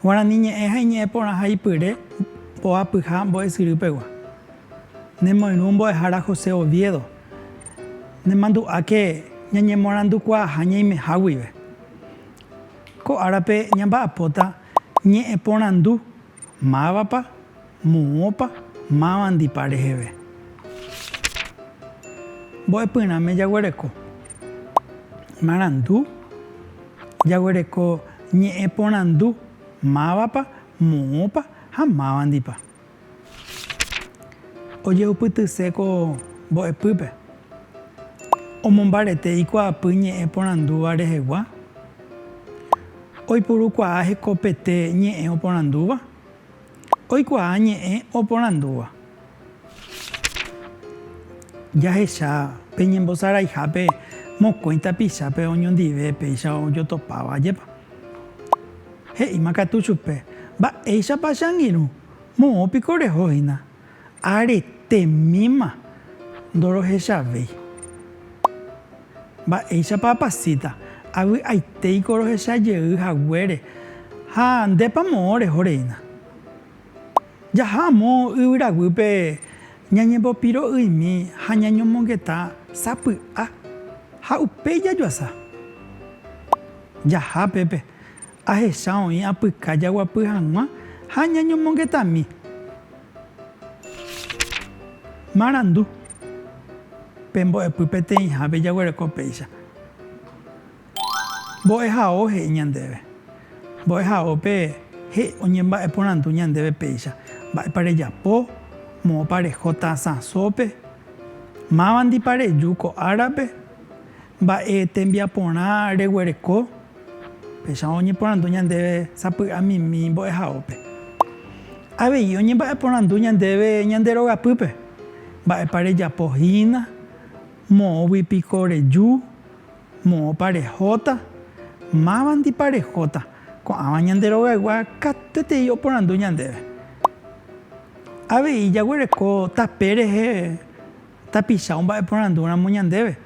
Guarani ñe'ẽ ha iñe'ẽ porãha ipyre mboapyha mbo'esyry pegua. Nemoirũ mbo'ehára José Oviedo, nemandu'áke ñañemorandukuaaha ñaimeha guive. Ko árape ñamba'apóta ñe'ẽporandu, Mávapa? Moõpa? Mávandipa reheve? Mbo'epyrãme jaguereko marandu, jaguereko ñe'ẽporandu, Mávapa? Moõpa? Ha mávandipa? Ojeupytyse ko mbo'epýpe, omombarete ikuaapy ñe'ẽ porandúva rehegua, oipurukuaa hekopete ñe'ẽ oporandúva, oikuaa ñe'ẽ oporandúva. Jahecha pe ñembosaraihápe mokõi tapichápe oñondive péicha ojotopáva, ajépa? He'íma katu chupe, Mba'éichapa che angirũ? Moõ piko reho hína. Aretémima ndorohechavéi. Mba'éichapa apasíta, avy'aitéiko rohecha jey haguére ha ndépa moõ reho reína. Jaha amo yvyraguýpe ñañembopiro'ymi ha ñañomongeta sapy'a ha upéi jajoasa. Jaha pépe, ahecha oĩ apyka jaguapy hag̃ua ha ñañomongetami. Marandu, Pe mbo'epy peteĩhápe jaguereko péicha. Mbo'ehao he'i ñandéve. Mbo'ehaópe he'i oñemba'eporandu ñandéve péicha, Mba'épa rejapo? Moõpa reho tasãsópe? Mávandipa reju ko árape? Mba'e tembiaporã reguereko? Péicha oñeporandu ñandéve sapy'amimi mbo'ehaópe. Avei oñemba'eporandu ñandéve ñande rogapýpe, Mba'épa rejapo hína? Moõgui piko reju? Moõpa rehóta? Mávandipa rehóta? Ko'ãva ñande rogaygua katuetei oporandu ñandéve. Avei jaguereko tape rehe tapicha omba'eporandúramo ñandéve,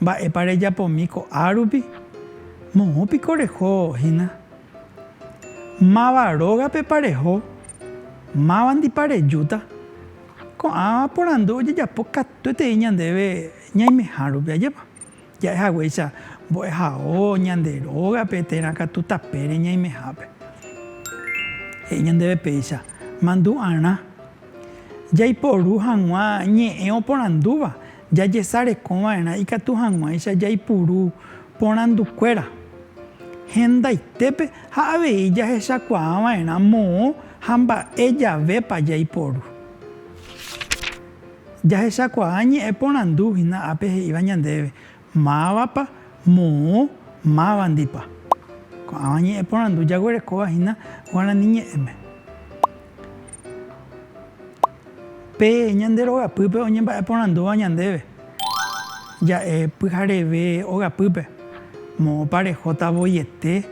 Mba'épa rejapomi ko'a rupi? Moõ piko reho hína? Máva rógapepa reho? Mávandipa rejúta? Ko'ã porandu ojejapo katuetei ñandéve ñaimeha rupi ajépa. Ja'e haguéicha mbo'ehao ñande rógape térã katu tapére ñaimehápe. He'i ñandéve péicha, Mandu'arã. Jaiporu hag̃ua ñe'ẽ oporandúva, jajesareko va'erã ikatu hag̃uáicha jaipuru porandu kuéra. Hendaitépe ha avei jahechakuaa va'erã moõ ha mba'e javépa jaiporu. Jahechakuaa ñe'ẽ porandu hína ápe he'íva ñandéve, Mávapa, moõ, mávandipa. Ko'ãva ñe'ẽ porandu jaguerekóva hína guarani ñe'ẽme. Pe ñande rogapýpe oñemba'e porandúva ñandéve, ja'e pyhareve ogapýpe, Moõpa rehóta voiete?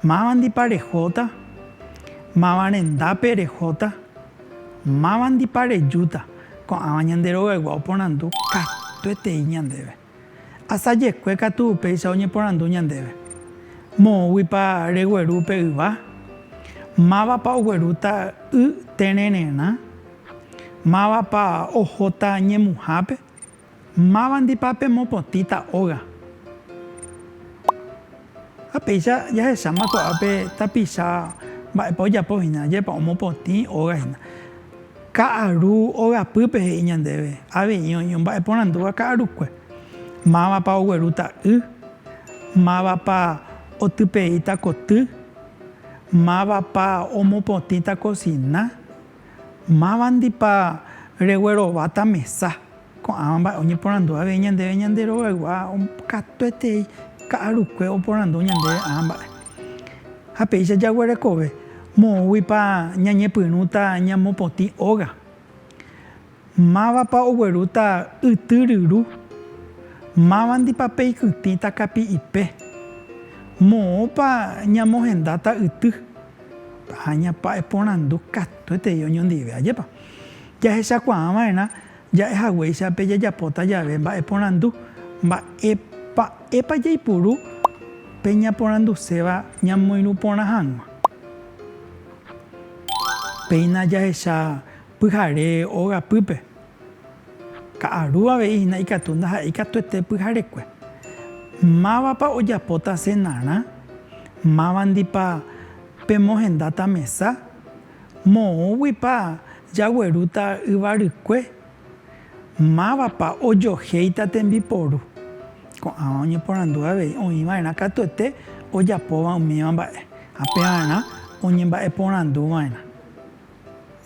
Mávandipa rehóta? Máva rendápe rehóta? Mávandipa rejúta ko'ãva ñande rogaygua oporandu katuetei ñandéve? Asajekue katu upéicha oñeporandu ñandéve, Moõguipa regueru upe yva? Mávapa oguerúta y terererã? Mávapa ohóta ñemuhápe? Mávandipa pemopotĩta óga? Ha péicha jahecháma ko'ápe tapicha mba'épa ojapo hína, ajépa omopotĩ óga hína. Ka'aru ogapýpe he'i ñandéve avei oĩ omba'eporandúva ka'arukue. Mávapa oguerúta y, mávapa otypeíta koty, mávapa omopotĩta kosina. Mávandipa reguerováta mesa? Ko'ãva mba'e oñeporandu avei ñandéve ñande rogaygua katuetei ka'arukue oporandu ñandéve ã mba'e. Ha péicha jaguerekove, moõguipa ñañepyrũta ñamopotĩ óga? Mávapa oguerúta yty ryru? Mávandipa peikytĩta kapi'ipe? Moõpa ñamohendáta yty? Aña pa'eporandu katuetei oñondive. Ajépa jahechakuaa va'erã ja'e haguéicha pe jajapóta jave mba'eporandu? Mba'e pa'épa jaipuru pe ñaporanduséva ñamoirũ porã hag̃ua? Péina jahecha Pyhare óga pýpe. Ka'aru avei hína ikatu ndaha'éi katuete pyharekue. Mávapa ojapóta cenarã? Mávandipa pemohendáta mesa? Moõguipa jaguerúta yvarykue? Mávapa ojohéita tembiporu? Ko'ãva oñeporandu avei oĩva'erã katuete ojapóva umíva mba'e ha pevarã oñemba'eporanduva'erã.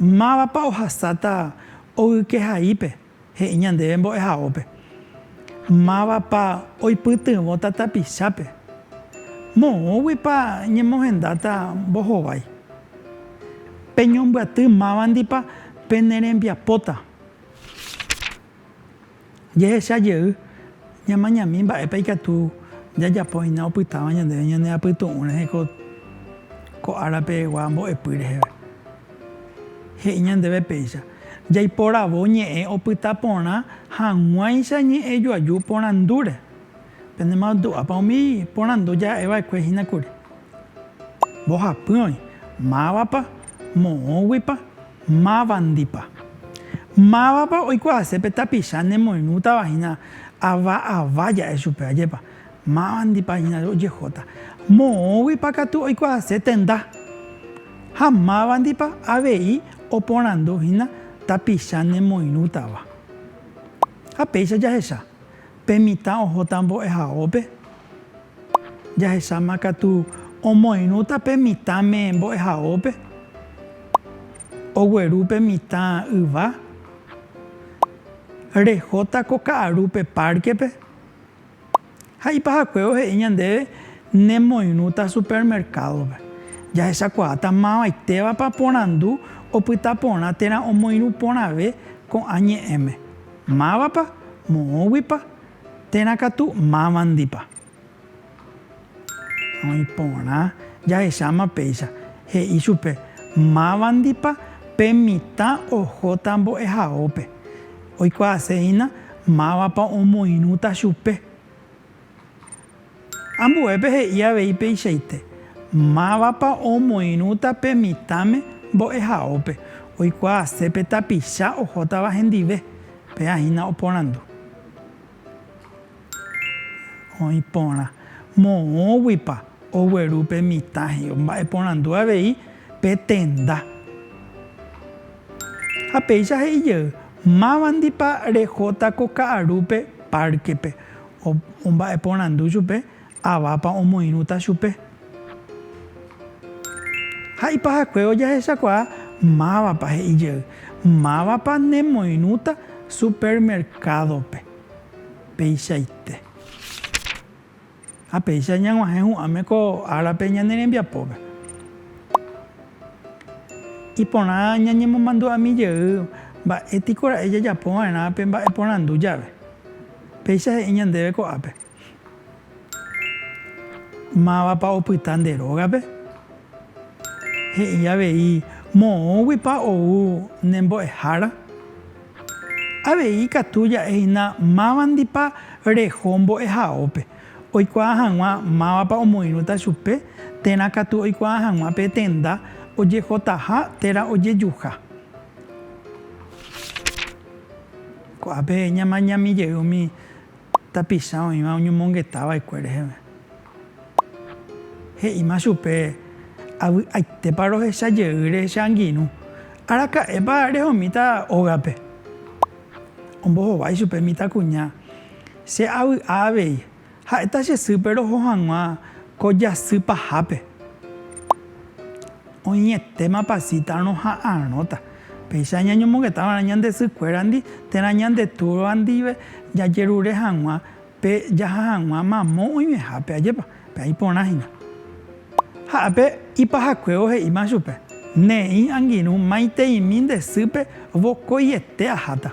Mávapa ohasáta ogyke haípe he'i ñandéve mbo'ehaópe? Mávapa oipytyvõta tapichápe? Moõguipa ñemohendáta mbohovái? Peñombyaty mávandipa penerembiapóta. Jehecha jey, ñamañami mba'épa ikatu jajapo hína opytáva ñandéve ñane apytu'ũ rehe ko ára pegua mbo'epy reheve. He'i ñandéve péicha, jaiporavo ñe'ẽ opyta porã hag̃uáicha ñe'ẽ joaju porandúre. Penemandu'ápa umi porandu ja'e va'ekue hína kuri. Mbohapy oĩ, mávapa, moõguipa, mávandipa. Mávapa oikuaase pe tapicha nemoirũtava hína ava ava ja'e chupe ajépa, mávandipa hína ojejóta. Moõguipa katu oikuaase tenda. Ha mávandipa avei oporandu hína tapicha nemoirũtava. Ha péicha jahecha. Pe mitã ohóta mbo'ehaópe. Jahecháma katu omoirũta pe mitãme mbo'ehaópe. Ogueru pe mitã yva. Rehóta ko ka'aru pe párkepe. Ha ipahakue ohe'i ñandéve nemoirũta supermerkádope. Jahechakuaáta mavaitévapa porandu opyta porã térã omoirũ porãve ko'ã ñe'ẽme. Mávapa, moõguipa, térã katu mávandipa. Oĩ porã, jahecháma péicha, he'i chupe, Mávandipa pe mitã ohóta mbo'ehaópe. Oikuaasehína mávapa omoirũta chupe. Ambuépe he'i avei peichaite, Mávapa omoirũta pe mitãme mbo'ehaópe oikuaase pe tapicha ohótava hendive? Péa hína oporandu. Oĩ porã. Moõguipa ogueru pe mitã he'i, omba'eporandu avei pe tenda. Ha péicha he'i jey, Mávandipa rehóta ko ka'arúpe párkepe? Omba'eporandu chupe avápa omoirũta chupe. Ha ipahakue ojahechakuaa mávapa he'i jey, Mávapa nemoirũta supermercado-pe. Peichaite. Ha péicha ñaguahẽ hu'ãme ko árape ñane rembiapópe. Iporã ñañemomandu'ami jey mba'étikora'e jajapova'erã pe mba'eporandu jave. Péicha he'i ñandéve ko'ápe, Mávapa opyta nde rógape? He'i avei, Moõguipa ou ne mbo'ehára? Avei ikatu ja'e hína mávandipa reho mbo'ehaópe, oikuaa hag̃ua mávapa omoirũta chupe, térã katu oikuaa hag̃ua pe tenda ojehotaha térã ojejuha. Ko'ápe ñamañami jey umi tapicha oĩva oñomongeta va'ekue reheve. He'íma chupe, Avy'aitépa rohecha jeýre che angirũ. Araka'épa rehomíta ógape? Ombohovái chupe mitãkuña, Che avy'a avei, Ha'éta che sýpe roho hag̃ua ko jasy pahápe. Oĩetéma pasita roha'arõta. Péicha ñañomongeta va'erã ñande sykuérandi térã ñande túrva ndive jajerure hag̃ua pe jaha hag̃ua mamo oĩvehápe. Ajépa, pe'a iporã hína. Ha ápe ipahakuévo he'íma chupe, Ne'ĩ angirũ maiteimi nde sýpe vokoiete aháta.